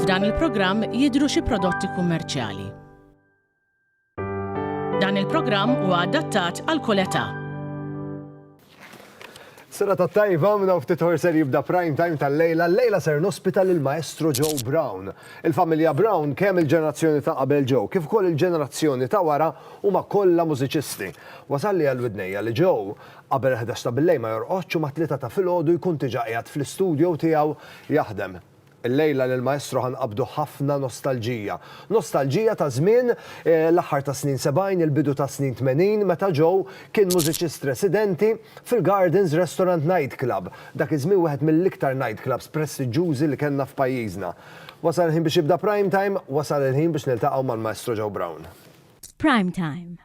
F'dan il-programm jidhru xi prodotti kummerċjali. Dan il-programm huwa adattat għal kull età. Serata tajba, minn hawn ftit ħor ser jibda Prime Time tal-lejla, llejla ser nospita lill-Maestro Joe Brown. Il-familja Brown, kemm il-ġenerazzjoni ta' qabel Joe, kif ukoll il-ġenerazzjoni ta' wara huma kollha mużiċisti. Wasalli għal widnejja li Joe, qabel il-ħdax ta' billejl ma jorqodx u mat-tlieta ta' filgħodu jkun diġà qiegħed fl-istudio tiegħu jaħdem. Illejla lill-Maestro ħa nqabbdu ħafna nostalġija. Nostalġija ta' żmien l-aħħar tas-snin sebgħin, il-bidu tas-snin tmenin meta Joe kien mużiċist residenti fil-Gardens Restaurant Nightclub, dak iż-żmien wieħed mill-iktar nightclubs prestiġġużi li kellna f'pajjiżna. Wasal il-ħin biex jibda Prime Time, wasal il-ħin biex niltaqgħu mal-Maestro Joe Brown. F'Prime Time,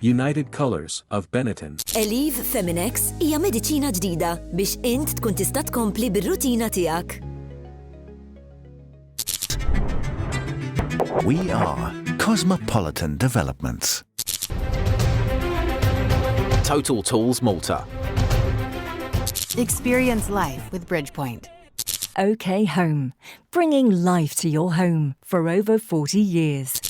United Colors of Benetton. Eliv Feminex hija mediċina ġdida biex int tkun tista' tkompli bir-rutina tiegħek. We are Cosmopolitan Developments. Total Tools Malta. Experience life with Bridgepoint. OK Home, bringing life to your home for over 40 years.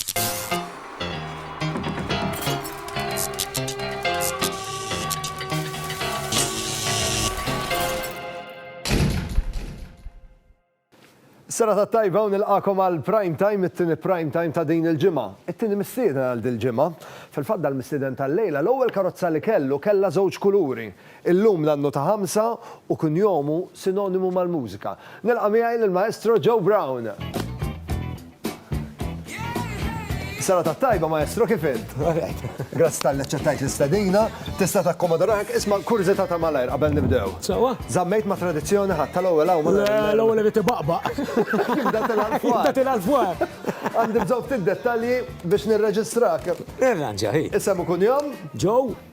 Sena ta' tajba u nilqakom għal prime time, it-tini prime time ta' din il-ġimgħa. It-tini mistieden għal din il-ġimgħa. Fil-fatt dal-mistieden tal-lejla, l-ewwel karozza li kellu kellha żewġ kuluri. Illum l-annu ta' ħamsa u kunjomu sinonimu mal-mużika. Nilqa' miegħi lill-Maestro Joe Brown. Serata t-tajba, Maestro, kif int? Grazzi talli aċċettajt l-istedina. Tista' takkomoda ruħek. Isma', kurżità ta' malajr qabel nibdew. Sewwa. Żammejt ma' tradizzjoni ħadd tal-ewwel hawn ma' Le, l-ewwel irid ibaqbaq. Jibda tilgħa 'l fwar. Jibda tilgħa 'l fwar. Għandi bżonn ftit dettalji biex nirreġistrak. Irranġa, hi. Isem u kunjom? Joe.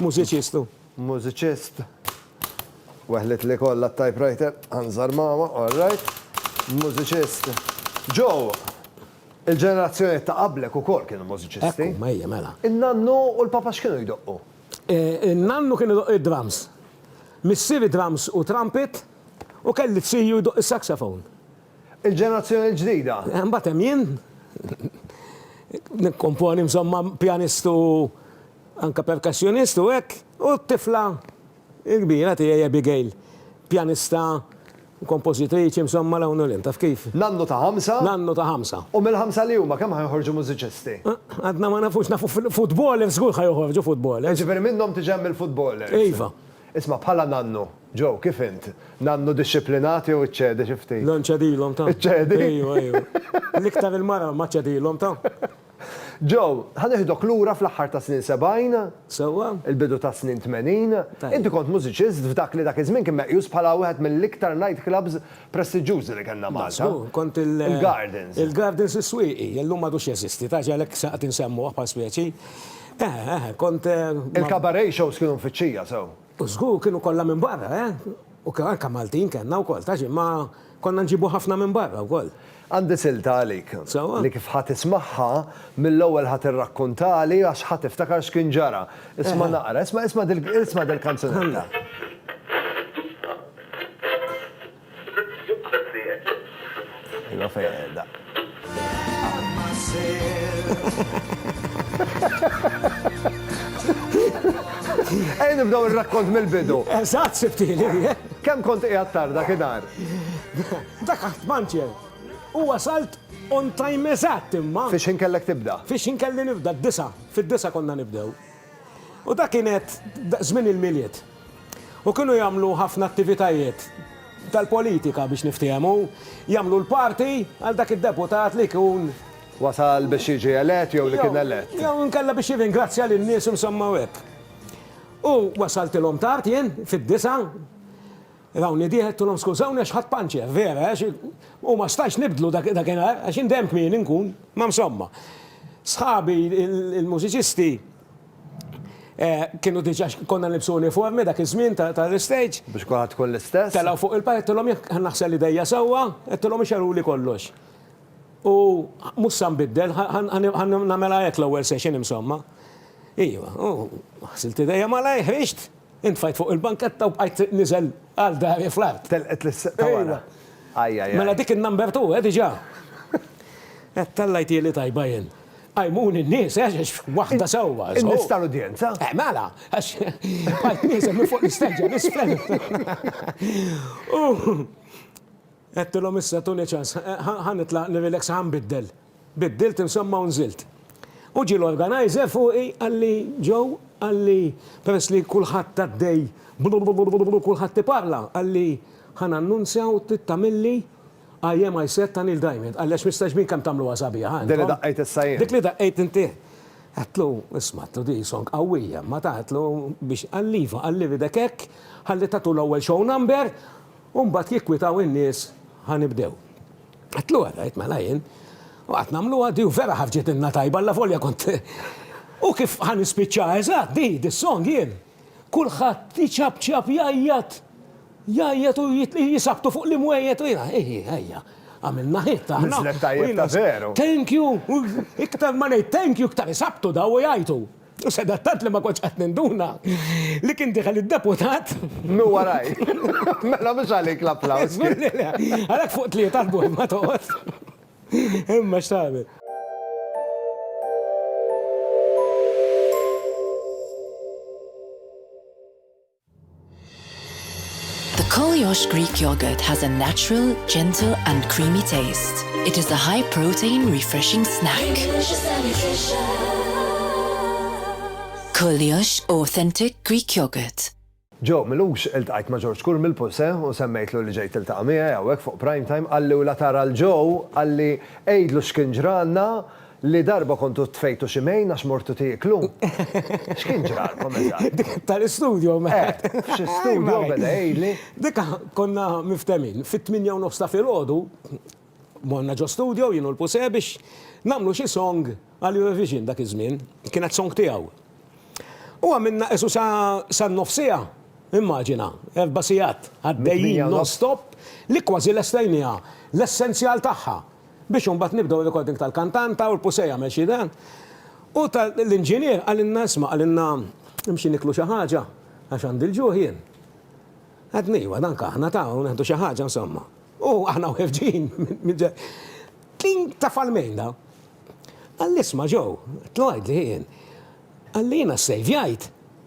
Mużiċistu. Mużiċist. Weħlet li kollha t-typewriter, anżar mama, all right. Mużiċist. Joe, il-ġenerazzjonijiet ta' qablek ukoll kienu mużiċisti. Ekku, ejja, mela. In-nannu u l-papa x'kienu jdoqqu? In-nannu kien idoqq id-drums. Missieri drums u trumpet u kelli tziju jdoqq is-saxophone. Il-ġenerazzjoni l-ġdida? Imbagħad hemm jien. Nikkomponi insomma pjanist u. Anke percussionist hu hekk. U t-tifla l-kbira tiegħi Abigail, pjanista, kompożitriċi, insomma 'l hawn u 'l hemm, taf kif? Nannu ta' ħamsa. Nannu ta' ħamsa. U mill-ħamsa li huma kemm ħa joħorġu mużiċisti? Għadna ma nafux, nafu footballers żgur ħa joħorġu footballers. Jiġifieri minnhom tiġi hemm il-footballers. Iva. Isma' bħala nannu, Joe, kif int? Nannu dixxiplinat jew iċċedi xi ftit? Le nċedilhom ta'. Iċċedi? Ejwa, ejwa. L-iktar il-mara ma ċedilhom ta'. Joe, ħa nieħdok lura fl-aħħar tas-snin sebgħin. Sewwa. Il-bidu tas-snin tmenin. Tajjeb. Inti kont mużiċist f'dak li dak iż-żmien kien meqjus bħala wieħed mill-iktar night clubs prestiġġjużi li kellna Malta. Żgur, kont il-. Il-Gardens. Il-Gardens is-Swieqi, illum m'għadux jeżisti, taf, għalhekk se qed insemmuh bħal spjeċi. Eħe, eħe, kont. Il-cabaret shows kienu mfittxija sew. U żgur kienu kollha minn barra, eh! U anke Maltin kellna wkoll, taf x'imma konna nġibu ħafna minn barra wkoll. Għandi silta għalik. Sewwa? Li kif ħa tismagħha, mill-ewwel ħa tirrakkuntali għax ħa tiftakar x'kien ġara. Isma' naqra, isma' isma' dil-kanzunetta. Ejja nibdew ir-rakkont mill-bidu. Eżatt, sibtili. Kemm kont qiegħed tard dak id-dar? Dak qatt ma ntjeb. U wasalt on time eżatt imma. Fix-x'ħin kellek tibda? Fix-x'ħin kelli nibda? D-disgħa. Fid-disgħa konna nibdew. U dak kien għedt żmien il-Milied. U kienu jagħmlu ħafna attivitajiet tal-politika biex niftiehmu, jagħmlu l-party għal dak id-deputat li jkun. Wasal biex jiġi elett jew li kien elett. Jew inkella biex jirringrazzja lin-nies insomma u hekk. U wasaltilhom tard jien, fid-disgħa, Dawn niedih għedtulhom skużawni għax ħadt panċer, vera għax u ma stajtx nibdlu dakinhar għax in dejjem kmieni nkun, ma msomma. Sħabi il-mużiċisti kienu diġà konna nilbsu uniformi dak iż-żmien tal-istage. Biex kulħadd tkun l-istess. Telgħu fuq il-palk għedtulhom jekk naħsel idejja sewwa, għedtulhom ixegħluli kollox. U mhux sa nbiddel, ħa nagħmilha hekk l-ewwel session imsomma. Iva, u ħsilt idejja malajr, ħriġt. Intfajt fuq il-banketta u bqajt niżel għal dari fl-art. Telqet l-sqqa ta' wara. Ajjajjaj. Mela dik in-number two, eh, diġà. Eh, tellajtieli tajba jien. Qajmuni n-nies, eh, għax waħda sewwa, żgur. In-nies tal-udjenza? Eh, mela, għax bqajt nieżel minn fuq l-isteġġa 'l isfel. U. Għedtilhom issa tuni ċans. Ħa nitlaq nirrilex ħa nbiddel. Biddilt insomma u nżilt. U ġie l-organizer fuqi qalli Joe qalli peress li kulħadd għaddej blublublublublu kulħadd iparla qalli ħa nannunzja u trid tagħmilli I am I said ta' Neil Diamond qalli għax mistax b'in kemm tagħmluha sabiħa intom. Din li daqqejt issa jien. Dik li daqqejt inti. Għedtlu isma' għedtlu di song qawwija imma ta' għedtlu biex qalli iva qalli iridek hekk ħalli tagħtu l-ewwel show number U mbagħad jikkwitaw in-nies Ħa nibdew. Għidtlu hekk, għidt, Mela jien. U qgħadt nagħmluha di u vera ħarġitilna tajba allavolja kont U kif ħa nispiċċaha eżatt di, dis-song jien. Kulħadd iċapċap, jgħajjat, jgħajjat u jisabtu fuq l-imwejjed u jiena, Hi hi, ejja, għamilna hit aħna. Niżlet tajjeb ta' veru. Thank you, iktar ma ngħid thank you iktar isabtu daw u jgħajtu. U sadattant li ma kontx qatt ninduna li kien deħel id-deputat. Minn waraj. Mela mhux għalik l-applaws. Żgur li le. Għalhekk fuq tlieta l-bogħod ma toqgħodx. Imma x'tagħmel. The Koliosh Greek yogurt has a natural, gentle and creamy taste. It is a high protein refreshing snack. Delicious and nutritious. Koliosh authentic Greek yogurt. Ġeww Milux iltqajt ma' Ġorġ Kurm il-Pulse u semmejtlu li ġejt tiltaqa' miegħi hawnhekk fuq Prime Time, qalli u la tara 'l ġeww, qalli għidlu x'kien ġralna, Li darba kontu tfejtu xi mejn għax mortu tieklu? X'kien ġralkom eżatt? Dik tal-istudjo ma. Eh, f'xi studjo beda jgħidli. Dik konna miftehmin, fit-tmienja u nofs ta' filgħodu morna ġo studjo jien u l-Puse biex nagħmlu xi song għal Eurovision dak iż-żmien, kienet song tiegħu. U għamilna qisu sa san-nofs siegħa, immaġina, erba' sigħat għaddejjin non-stop li kważi lestajnieha l-essenzjal tagħha. Biex imbagħad nibdew ir-recording tal-kantant, ta' Urpu se jagħmel xi dan. U l-inġinier qalilna isma' qalilna imxi niklu xi ħaġa għax għandi l-ġuħ jien. Għedna iva danka aħna ta' u neħdu xi ħaġa insomma. U aħna wħefġin minn ġe. Kien taf għal mejn da. Qalli isma' Joe, qedtlu għidli jien. Qalli jiena ssejvjajt.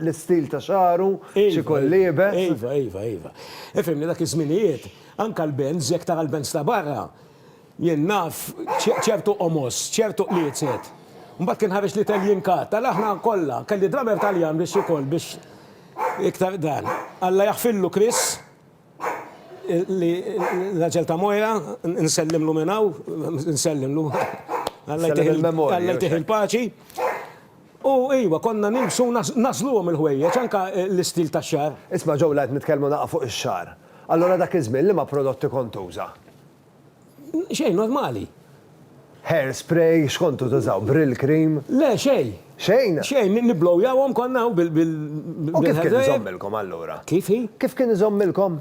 l-istil ta' xagħru, xi kolli iebes. Iva, iva, iva. Ifhimni, dak iż-żminijiet, anke l-bands, jekk tara l-bands ta' barra, jien naf ċertu qomos, ċertu qliezet. Mbagħad kien ħareġ l-Itallian Cut, ara aħna kollha, kelli drummer Taljan biex ikoll, biex iktar dan. Alla jaħfirlu Chris. Li l-aġel ta' Moira, nsellimlu minn hawn, nsellimlu. Alla jtih il-paċi. U iva, konna nilbsu nasluhom il-ħwejjeġ, anke l-istil tax-xagħar. Isma' Joe, la qed nitkellmu naqqa' fuq ix-xagħar. Allura dak iż-żmien liema prodotti kont tuża? Xejn, normali. Hair spray, x'kontu tużaw? Brylcream? Le, xejn. Xejn? Xejn, nibblowjawhom konna u bil. U kif kien iżommilkom allura? Kif hi? Kif kien iżommilkom?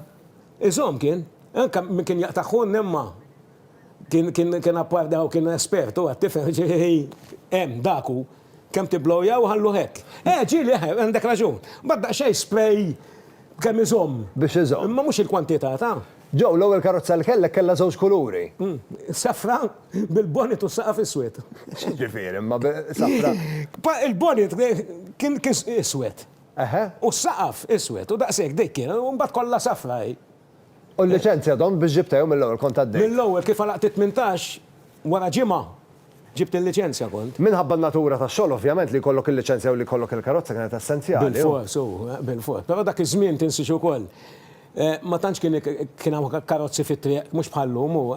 Iżomm kien. Anke min kien jaqta' ħunn imma kien appardaw kien espert hu għat-tifel ġifieri hemm dak hu. Kemm tibblowjaw ħalluh hekk. Eh, ġieli, eh, għandek raġun. Mbagħad daqsxejn spray b'kemm iżomm. Biex iżomm. Imma mhux il-kwantità ta'. Joe, l-ewwel karozza li kellek kellha żewġ kuluri. Safra bil-bonnet u s-saqaf iswed. X'jiġifieri imma safra? Il-bonnet kien iswed. Eħe. U s-saqaf iswed u daqshekk dik kien u mbagħad kollha safra hi. U l-liċenzja domt biex ġibtha jew mill-ewwel kont għaddejt? Mill-ewwel, kif għalaqt it-tmintax, wara ġimgħa ġibt il-liċenzja kont. Minħabba n-natura tax-xogħol ovvjament li jkollok il-liċenzja u li jkollok il-karozza kienet essenzjali. Bilfors, u bilfors. Però dak iż-żmien tinsiex ukoll ma tantx kien kien hawn karozzi fit-triq mhux bħal llum u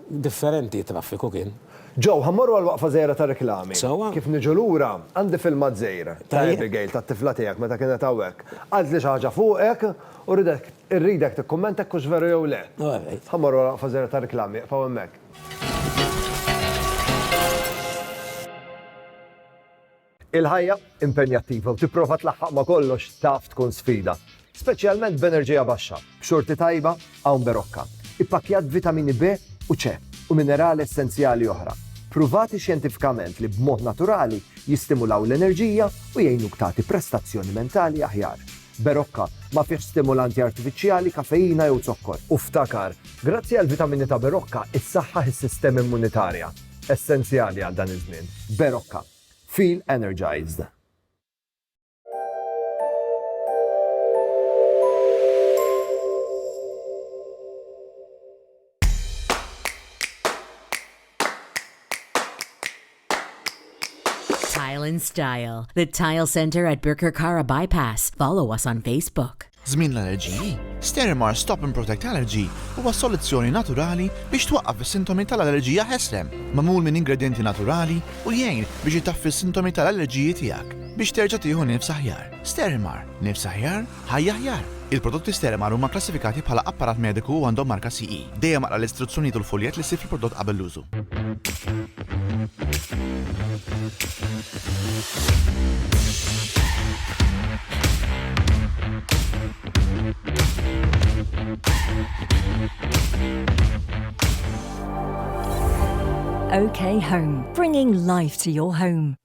differenti t-traffiku kien. Joe, ħa mmorru għal waqfa żgħira ta' riklami. Sewwa. Kif niġu lura, għandi filmat żgħir ta' Abigail, tat-tifla tiegħek meta kienet hawnhekk. Qaltli xi ħaġa fuqek U rridek, irridek tikkummenta jekk hux veru jew le. All right. Ħa mmorru għal waqfa żgħira ta' riklami, iqfgħu hemmhekk. Il-ħajja impenjattiva u tipprova tlaħħaq ma' kollox taf tkun sfida, speċjalment b'enerġija baxxa. B'xorti tajba hawn Berocca, ippakkjat b'vitamini B u C u minerali essenzjali oħra, pruvati xjentifikament li b'mod naturali jistimulaw l-enerġija u jgħinuk tagħti prestazzjoni mentali aħjar. Berocca, ma fihx stimulanti artifiċjali, kafeina jew zokkor. U ftakar, grazzi għall-vitamini ta' Berocca issaħħaħ is-sistema immunitarja, essenzjali għal dan iż-żmien. Berocca. Feel energized. Tile and Style, the Tile Center at Birkirkara Bypass. Follow us on Facebook. Żmien l-allerġiji, Sterimar Stop and Protect Allergy huwa soluzzjoni naturali biex twaqqaf is-sintomi tal-allerġija ħesrem, magħmul minn ingredjenti naturali u jgħin biex itaffi s-sintomi tal-allerġiji tiegħek biex terġa' tieħu nifs aħjar. Sterimar, nifs aħjar? Ħajja aħjar! Il-prodotti Sterimer huma kklassifikati bħala apparat mediku u għandhom marka CE. Dejjem aqra l-istruzzjonijiet u l-fuljett li ssib fil-prodott qabel l-użu. OK Home, bringing life to your home.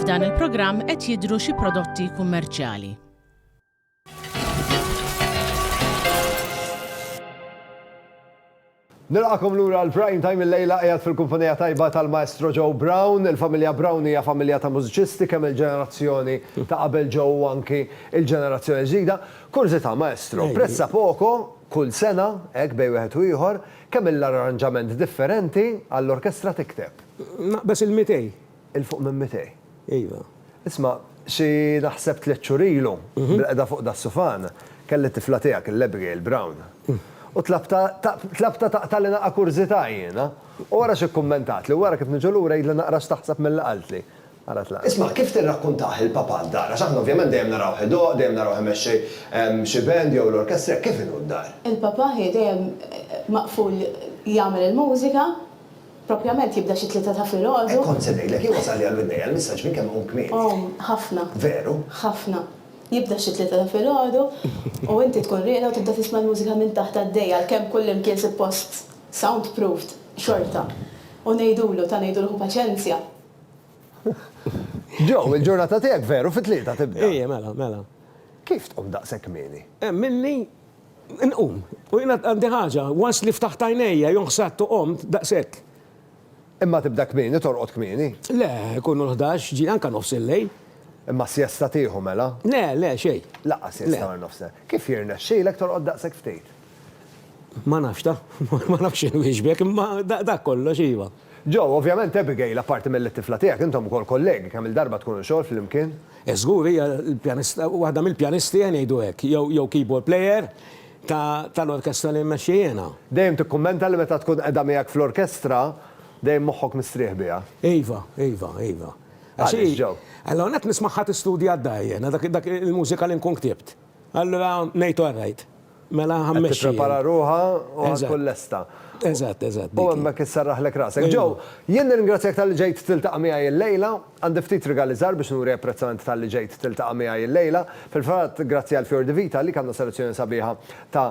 F'dan il-programm qed jidhru xi prodotti kummerċjali. Nilqakom lura l-prime time il-lejla qiegħed fil-kumpanija tajba tal-Maestro Joe Brown. Il-familja Brown hija familja ta' mużiċisti kemm il-ġenerazzjoni ta' qabel Joe u anki il-ġenerazzjoni ġdida. Kurżità, Maestro, prezza poco kull sena, hekk bej wieħed u ieħor, Kemm il-arranġament differenti għall-orkestra tikteb? Naqbes il-mitej. 'il fuq minn mitej. Iva. Isma', xi naħseb tliet xhur ilu, bil-qegħda fuq das-sufan, kelli t-tifla tiegħek, il-Abigail Brown. U tlabtha, tlabtha taqtagħli naqa' kurżità jiena. U ara x'ikkummentatli, u ara kif niġu lura jgħidli naqra x'taħseb mill-li qaltli. qalet l-għaqda. Isma', kif tirrakkuntah il-Papa d-dar? Għax aħna ovvjament dejjem narawh idoqq, dejjem narawh imexxi xi band jew l-orkestra, hekk kif inhu d-dar? Il-Papa hi dejjem maqful jagħmel il-mużika, propjament jibda xi tlieta ta' filgħodu. Hekk kont se ngħidlek, jien wasalli għal widnejja l-messaġġ minn kemm qum kmieni. Qum, ħafna. Veru? Ħafna. Jibda xi tlieta ta' filgħodu u inti tkun rieqda u tibda tisma' l-mużika minn taħt għaddejja għalkemm kullimkien suppost soundproofed xorta. U ngħidulu, ta' ngħidulu ħu paċenzja. Joe, il-ġurnata tiegħek veru fit-Tlieta tibda. Ejja, mela, mela. Kif tqum daqshekk kmieni? Hemm minni nqum. U jiena għandi ħaġa, once li ftaħt għajnejja, jew ħsadt u qomt, daqshekk. Imma tibda kmieni, torqod kmieni? Le, ikunu l-ħdax, ġie, anke nofs il-lejl. Imma sjesta tieħu mela? Le, le, xejn. Lanqas siesta wara nofs il-lejl. Kif jirnexxilek torqod daqshekk ftit? Ma nafx ta. Ma nafx x'inwieġbek, imma dak kollox, iva. Joe, Ovvjament Abigail, apparti milli t-tifla tiegħek, intom ukoll kollegi, kemm-il darba tkunu xogħol flimkien? Żgur, hija l-pjanista, waħda mill-pjanisti, ngħidu hekk, jew keyboard player, tal-orkestra li mmexxi jiena. Dejjem tikkummenta li meta tkun qiegħda miegħek fl-orkestra, dejjem moħħok mistrieħ biha. Iva, iva, iva. Għaliex, Joe? L-ewwel nett nismagħha tistudja d-dahir, jiena dak il-mużika li nkun ktibt. Allura ngħid all right. Mela ħa mmexxi. Qed tipprepara ruħha u ħa tkun lesta. Eżatt, eżatt. U hemmhekk isserraħlek rasek. Joe, jien nirringrazzjak talli ġejt tiltaqa' miegħi illejla. Għandi ftit rigali żgħar biex nuri apprezzament talli ġejt tiltaqa' miegħi illejla. Fil-fatt, grazzi għal Fior di Vita għalik għandna selezzjoni sabiħa ta'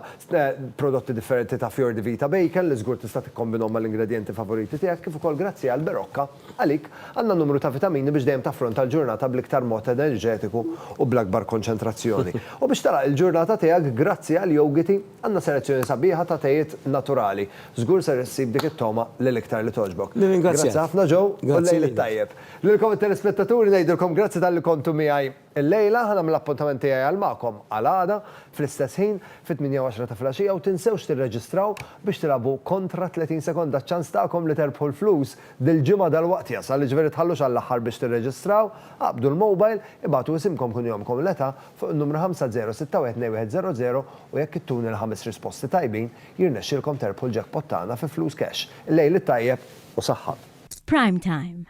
prodotti differenti ta' Fior di Vita Bacon li żgur tista' tikkombinhom mal-ingredjenti favoriti tiegħek kif ukoll grazzi għall-Berocca. Għalik, għandna numru ta' vitamini biex dejjem taffronta l-ġurnata bl-iktar mod enerġetiku u bl-akbar konċentrazzjoni. U biex tagħlaq il-ġurnata tiegħek grazzi għal Yogiti, għandna selezzjoni sabiħa ta' tejiet naturali. Żgur ser issib dik it-togħma li l-iktar li togħġbok. Nirringrazzjak. Grazzi ħafna Joe u l-lejl it-tajjeb. Lilkom it-telespettaturi ngħidilkom grazzi talli kontu miegħi. Illejla ħa nagħmel appuntament tiegħi għal magħkom għal għada fl-istess ħin fit-tmienja u għaxra ta' filgħaxija u tinsewx tirreġistraw biex tilagħbu kontra 30 sekonda ċ-ċans tagħkom li terbħu l-flus dil-ġimgħa dalwaqt jasal jiġifieri tħallux għall-aħħar biex tirreġistraw aqbdu l-mobile ibagħtu isimkom kunjomkom l-età fuq in-numru 50612100 u jekk ittuni l-ħames risposti tajbin jirnexxilkom terbħu l-jackpot tagħna fi flus cash. Illejl it-tajjeb u saħħa. F'prime time.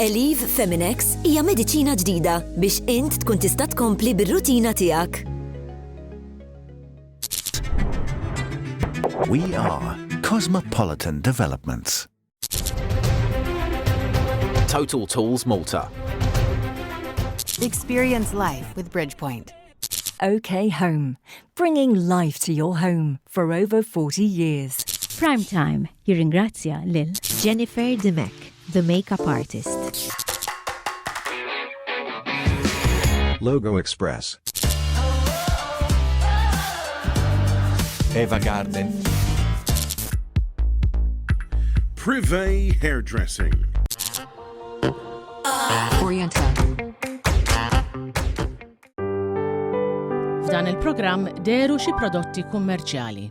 Elif Feminex hija mediċina ġdida biex int tkun tista' tkompli bir-rutina tiegħek. We are Cosmopolitan Developments. Total Tools Malta. Experience life with Bridgepoint. OK Home, bringing life to your home for over 40 years. Prime Time Jirringrazzja lil. Jennifer Dimech, the makeup artist. Logo Express. Eva Garden. Privé Hairdressing. Oriental. F'dan il-programm deru xi prodotti kummerċjali.